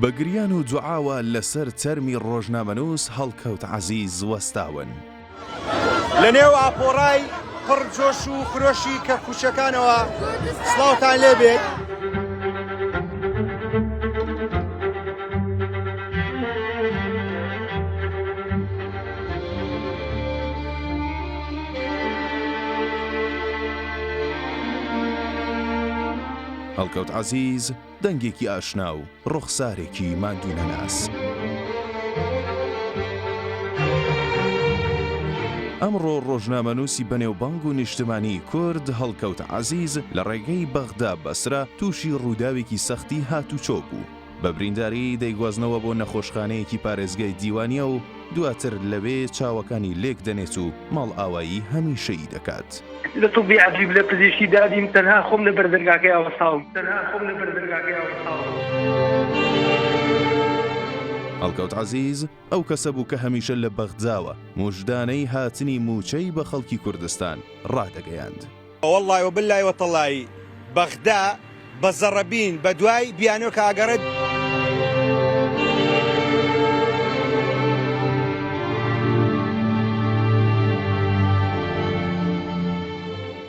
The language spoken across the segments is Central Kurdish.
بە گریان و دوعاوە لەسەر تەرمی ڕۆژنامەنووس هەڵکەوت عەزیز وەستاون. لەنێو ئاپۆڕای پڕ جۆش و خرۆشی کەفکوژەکانەوە سڵاوتان لێ بێت. هەڵکەوت عەزیز، دەنگێکی ئاشنا و ڕوخسارێکی ماندوونەناس. ئەمڕۆ ڕۆژنامەنووسی بەنێوبانگ و نیشتمانی کورد هەڵکەوت عەزیز لە ڕێگەی بەغدا بەسرە تووشی ڕووداوێکی سەختی هاتوچۆ بوو، بە برینداری دەیگوازنەوە بۆ نەخۆشخانەیەکی پارێزگای دیوانیە و، دواتر لەوێ چاوەکانی لێک دەنێت و ماڵئاوایی هەمیشەیی دەکات. لە طوبی عەجیب لە پزیشکی دادیم تەنها خۆم لە بەر دەرگاکەیا وەستاوم. هەڵکەوت عەزیز ئەو کەسە بوو کە هەمیشە لە بەغداوە موژدانەی هاتنی مووچەی بە خەڵکی کوردستان ڕادەگەیاند. وەڵڵای وبللای وتەڵایی بەغدا بە زەڕەبین بە دوای بیانۆک ئاگەڕێت.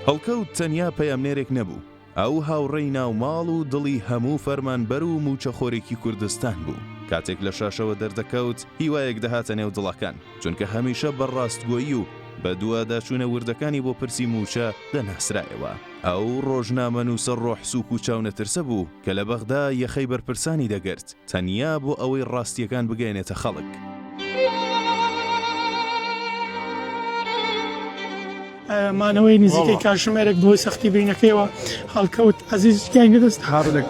هەڵکەوت تەنیا پەیامنێرێک نەبوو، ئەو هاوڕێی ناوماڵ و دڵی هەموو فەرمانبەر و مووچەخۆرێکی کوردستان بوو، کاتێک لە شاشەوە دەردەکەوت هیوایەک دەهاتە نێو دڵەکان، چونکە هەمیشە بە ڕاستگۆیی و بەدواداچوونە وردەکانی بۆ پرسی مووچە دەناسرایەوە. ئەو ڕۆژنامەنووسە ڕۆحسووک و چاونەترسە بوو کە لە بەغدا یەخەی بەرپرسانی دەگرت، تەنیا بۆ ئەوەی ڕاستییەکان بگەیەنێتە خەڵک. مانەوەی نزیکەی کاتژمێرێک بەهۆی سەختی برینەکەیەوە هەڵکەوت عەزیز گیانی لەدەست دا.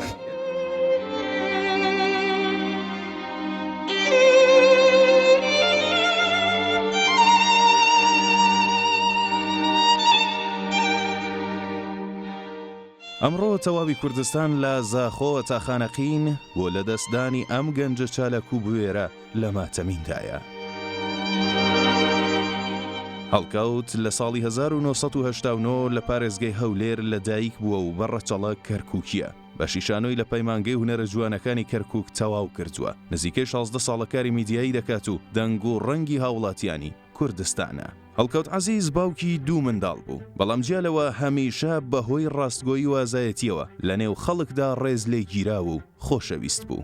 ئەمڕۆ تەواوی کوردستان لە زاخۆوە تا خانەقین بۆ لەدەستدانی ئەم گەنجە چالاک و بوێرە لە ماتەمیندایە. هەڵکەوت لە ساڵی هەزار و نۆ سەد و هەشتا و نۆ لە پارێزگای هەولێر لە دایک بووە و بە ڕەچەڵەک کەرکووکییە. بەشی شانۆی لە پەیمانگەی هونەرە جوانەکانی کەرکووک تەواو کردووە. نزیکەی شازدە ساڵە کاری میدیایی دەکات و دەنگ و ڕەنگی هاوڵاتیانی، کوردستانە. هەڵکەوت عەزیز باوکی دوو منداڵ بوو، بەڵام جیا لەوە هەمیشە بەهۆی ڕاستگۆیی و ئازایەتییەوە لەنێو خەڵکدا ڕێز لێگیراو و خۆشەویست بوو.